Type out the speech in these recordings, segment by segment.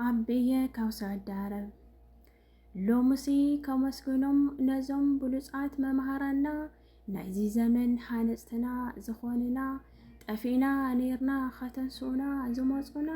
ኣቤየ ካብ ሳዑዲ ዓረብ ሎምሲ ከመስግኖም ነዞም ብሉፃት መምሃራና ናይዚ ዘመን ሃነፅትና ዝኾንና ጠፊእና ነርና ከተንስኡና ዝመፁና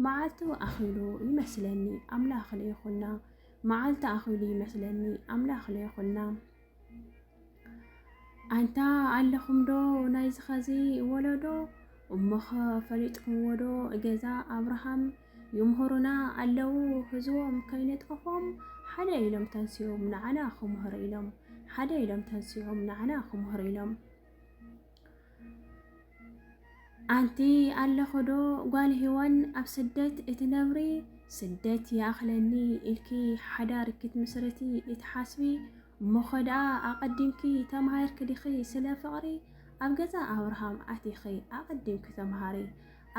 መዓልቱ ኣኺሉ ይመስለኒ ኣምላኽ ለይኹና መዓልቲ ኣኺሉ ይመስለኒ ኣምላኽ ለይኹና ኣንታ ኣለኹምዶ ናይዚ ኸዚ ወለዶ እሞኸ ፈሊጥኩምዎዶ ገዛ ኣብርሃም ይምህሩና ኣለዉ ህዝቦም ከይነጥፎም ሓደ ኢሎም ተንሲኦም ንዓና ክምህሩ ኢሎም ሓደ ኢሎም ተንሲኦም ንዓና ክምህሩ ኢሎም ኣንቲ ኣለኽዶ ጓል ሂዋን ኣብ ስደት እትነብሪ ስደት ይኣኽለኒ ኢልኪ ሓዳር ክትምስርቲ እትሓስቢ እሞኸ ደኣ ኣቐዲምኪ ተምሃርኪ ዲኺ ስለ ፍቕሪ ኣብ ገዛ ኣብርሃም ኣቲኺ ኣቐዲምኪ ተምሃሪ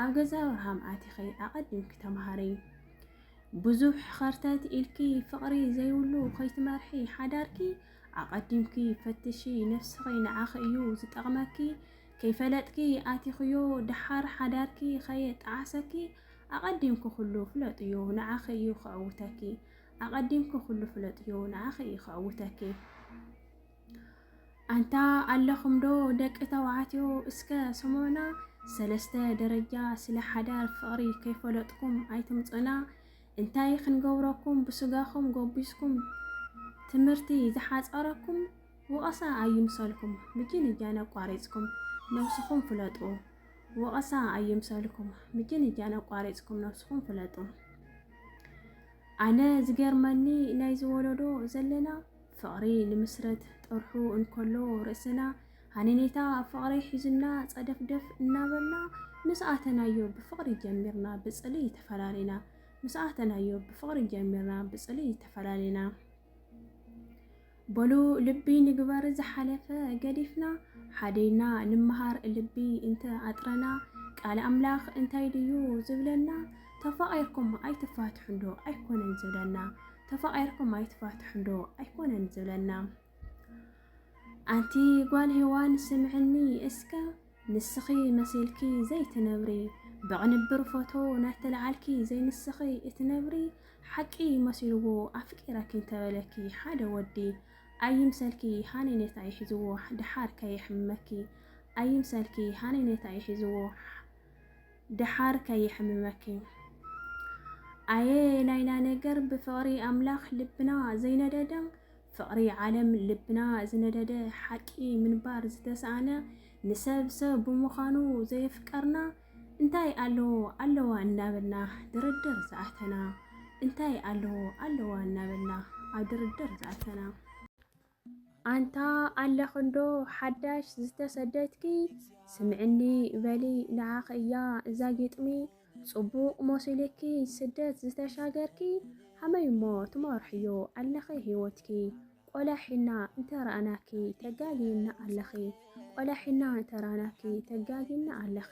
ኣብ ገዛ ኣብርሃም ኣቲኺ ኣቐዲምኪ ተምሃሪ ብዙሕ ኸርተት ኢልኪ ፍቕሪ ዘይብሉ ከይትመርሒ ሓዳርኪ ኣቐዲምኪ ፈትሺ ነፍስኺ ንዓኺ እዩ ዝጠቕመኪ ከይፈለጥኪ ኣቲኽዮ ደሓር ሓዳርኪ ከየጣዓሰኪ ኣቐዲምኪ ኩሉ ፍለጥዮ ንዓኺ እዩ ከዕውተኪ ኣቐዲምኪ ኩሉ ፍለጥዮ ንዓኺ እዩ ከዕውተኪ ኣንታ ኣለኹምዶ ደቂ ተባዕትዮ እስከ ስሙዕና ሰለስተ ደረጃ ስለ ሓዳር ፍቕሪ ከይፈለጥኩም ኣይትምፁና እንታይ ክንገብረኩም ብስጋኹም ጎቢዝኩም ትምህርቲ ዝሓጸረኩም ወቐሳ ኣይምሰልኩም ምጅንጃን ኣቋሪጽኩም ነብስኹም ፍለጡ ወቐሳ ኣይምሰልኩም ምጅንጃን ኣቋሪጽኩም ነብስኹም ፍለጡ ኣነ ዝገርመኒ ናይ ዝወለዶ ዘለና ፍቕሪ ንምስረት ጥርሑ እንከሎ ርእስና ሃኒኒታ ኣብ ፍቕሪ ሒዝና ጸደፍደፍ እናበልና ምስ ኣተናዮ ብፍቕሪ ጀሚርና ብጽልኢ ተፈላሊና ምስ ኣተናዮ ብፍቕሪ ጀሚርና ብጽልኢ ተፈላሊና በሉ ልቢ ንግበር ዝሓለፈ ገዲፍና ሓዲና ንምሃር ልቢ እንተ ኣጥረና ቃል ኣምላኽ እንታይ ድዩ ዝብለና ተፋቒርኩም ኣይትፋትሑን ዶ ኣይኮነን ዝብለና ተፋቒርኩም ኣይትፋትሑን ዶ ኣይኮነን ዝብለና ኣንቲ ጓል ሄዋን ስምዕኒ እስከ ንስኺ መሲልኪ ዘይትነብሪ ብቕንብር ፎቶ ናተለዓልኪ ዘይንስኺ እትነብሪ ሓቂ መሲልዎ ኣፍቂረኪ እንተበለኪ ሓደ ወዲ ኣይምሰልኪ ሃነኔታ ይሕዝዎ ድሓር ከየሕምመኪ ኣይምሰልኪ ሃነኔታ ይሕዝዎ ድሓር ከየሕምመኪ ኣየ ናይና ነገር ብፍቕሪ ኣምላኽ ልብና ዘይነደደ ፍቕሪ ዓለም ልብና ዝነደደ ሓቂ ምንባር ዝተሰኣነ ንሰብ ሰብ ብምዃኑ ዘየፍቀርና እንታይ ኣለዎ ኣለዋ እናበልና ድርድር ዝኣተና እንታይ ኣለዎ ኣለዋ እናበልና ኣብ ድርድር ዝኣተና ኣንታ ኣለኽንዶ ሓዳሽ ዝተሰደትኪ ስምዕኒ በሊ ንዓኺ እያ እዛ ግጥሚ ጽቡቕ ሞሲልኪ ስደት ዝተሻገርኪ ሃመይ እሞ ትመርሕዮ ኣለኺ ሂወትኪ ቆላሒና እንተራእናኪ ተጋጊና ኣለኺ ቆላሒና እንተራእናኪ ተጋጊና ኣለኺ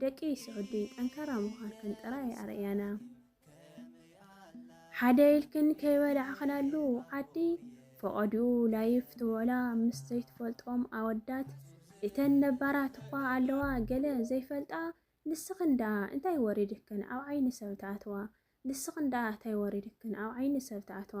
ደቂ ስዑዲ ጠንካራ ምዃንክን ጥራይ ኣርእያና። ሓደ ኢልክን ከይበላዕኽናሉ ዓዲ ፈቐድኡ ላይፍ ትበላ ምስ ዘይትፈልጦም ኣወዳት እተን ነባራት እኳ ኣለዋ ገለ ዘይፈልጣ ንስኽን ደኣ እንታይ ወሪድክን ኣብ ዓይኒ ሰብ ትኣትዋ ንስኽን ደኣ እንታይ ወሪድክን ኣብ ዓይኒ ሰብ ትኣትዋ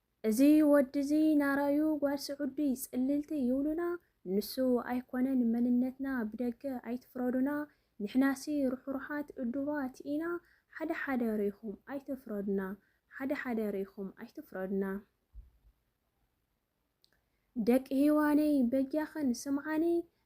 እዚ ወዲ እዚ ናራዩ ጓል ስዑዲ ጽልልቲ ይብሉና ንሱ ኣይኮነን መንነትና ብደገ ኣይትፍረዱና ንሕናሲ ርሕሩሓት እዱባት ኢና ሓደ ሓደ ሪኢኹም ኣይትፍረዱና ሓደ ሓደ ሪኢኹም ኣይትፍረዱና ደቂ ሂዋነይ በጃኽን ስምዓኒ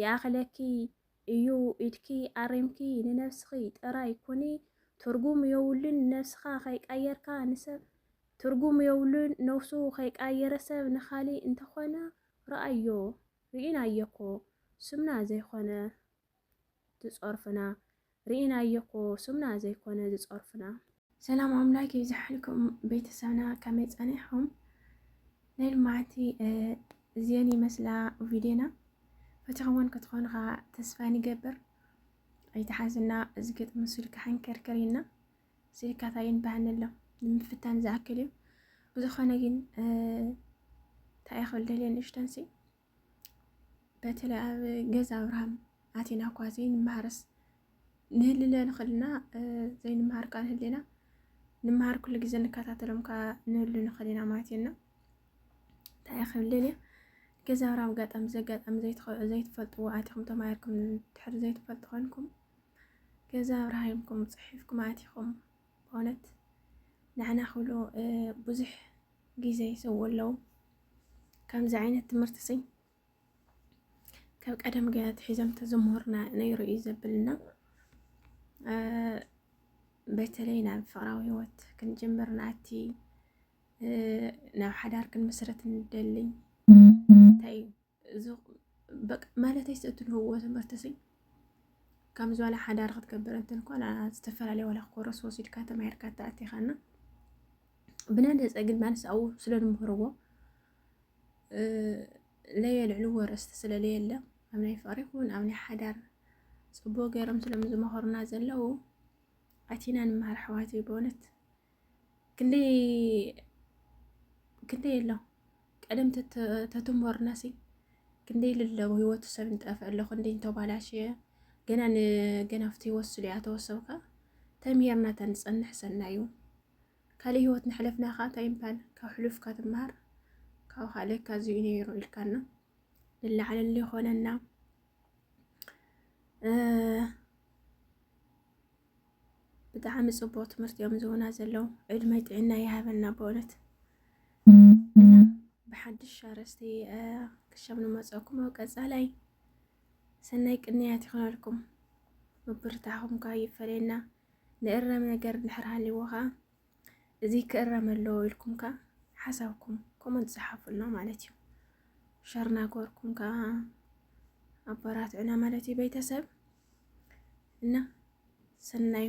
ይኣኽለኪ እዩ ኢድኪ ኣሪምኪ ንነብስኺ ጥራይ ኩኒ ትርጉም የውሉን ንነብስኻ ከይቃየርካ ንሰብ ትርጉም የውሉን ነውሱ ከይቃየረ ሰብ ንኻሊእ እንተኾነ ርኣዮ ሪኢናዮኮ ስምና ዘይኾነ ትጸርፉና ሪኢናዮ እኮ ስምና ዘይኮነ ዝፀርፉና። ሰላም ኣምላክ ይብዛሓልኩም ቤተሰብና ከመይ ፀኒሕኹም ናይ ልማዓቲ እዚኤን ይመስላ ቪድዮና ፈቲኽወን ክትኾኑ ከዓ ተስፋ ንገብር ኣይተሓዝና እዚ ግጥሚ ስልካ ሕንክርክር ኢልና ስልካት ኣይንባህን ኣሎ ንምፍታን ዝኣክል እዩ ብዝኾነ ግን እንታይ እየ ክብል ደልየ ንእሽተንሲ በተለይ ኣብ ገዛ ኣብርሃም ኣቴና እኳ ዘይንመሃርስ ንህልለ ንኽልና ዘይንመሃር ቃል ህሌና ንምሃር ኩሉ ግዜ ንከታተሎም ከዓ ንህሉ ንኽእል ኢና ማለት እየና እንታይ ክብልል እየ ገዛ ኣብርሃም ኣጋጣሚ ዘጋጣሚ ዘይትፈልጥዎ ኣቲኹም ተማሂርኩም ትሕር ዘይትፈልጡ ኮንኩም ገዛ ኣብርሃምኩም ፅሒፍኩም ኣቲኹም በእውነት ንዓና ክብሉ ብዙሕ ግዜ ይሰው ኣለው። ከምዚ ዓይነት ትምህርቲ ሲ ካብ ቀደም ገ ትሒዞም ተዘምህሩና ነይሩ እዩ ዘብልና። በተለይ ናብ ፍቅራዊ ህይወት ክንጅምር ንኣቲ ናብ ሓዳር ክንምስረት ንደሊ እንታይ እዩ ማለተይ እትንህዎ ትምህርቲ ሲ ከም ዝዋላ ሓዳር ክትገብር እንትን ኮላ ዝተፈላለየ ዋላ ክኮረስ ወሲድካ ተማሂርካ ተኣቲኻና ብናደፀ ግን ማለት ኣብኡ ስለንምህርዎ ለየልዕሉ ወረስቲ ስለለየለ ኣብ ናይ ፍቅሪ ይኹን ኣብ ናይ ሓዳር ፅቡቅ ገይሮም ስለምዝመኸሩና ዘለው ኣቲና ንምሃር ኣሕዋት በእውነት ክንደይ ክንደይ ኣሎ ቀደም ተትሞርናሲ ክንደይ ልለው ህይወቱ ሰብ ንጠፍእ ኣሎ ክንደይ እንተባላሽ ገና ንገና ኣብቲ ህይወት ስሉ እያ ተወሰብካ ተምሄርና ተንፀንሕ ሰናዩ ካልእ ህይወት ንሕለፍና ኸዓ እንታይ ይምፓል ካብ ሕሉፍካ ትምሃር ካብ ካልእ ካብዚኡ ነይሩ ኢልካና ልላዕለሉ ይኾነና ብጣዕሚ ጽቡቅ ትምህርቲ እዮም ዝህቡና ዘለዉ። ዕድመይ ጥዕና ይሃበልና በእውነት እና ብሓድሽ ኣርእስቲ ክሻብ ንመጸኩም ኣብ ቀጻላይ ሰናይ ቅንያት ይኾነልኩም። ምብርታዕኹም ኳ ይፈለየና። ንእረም ነገር ድሕር ሃሊዎ ኸዓ እዚ ክእረም ኣለዎ ኢልኩም ከ ሓሳብኩም ኮመንት ፀሓፉልና ማለት እዩ። ሸር ናገርኩም ከ ኣበራትዑና ማለት እዩ ቤተሰብ እና ሰናዩ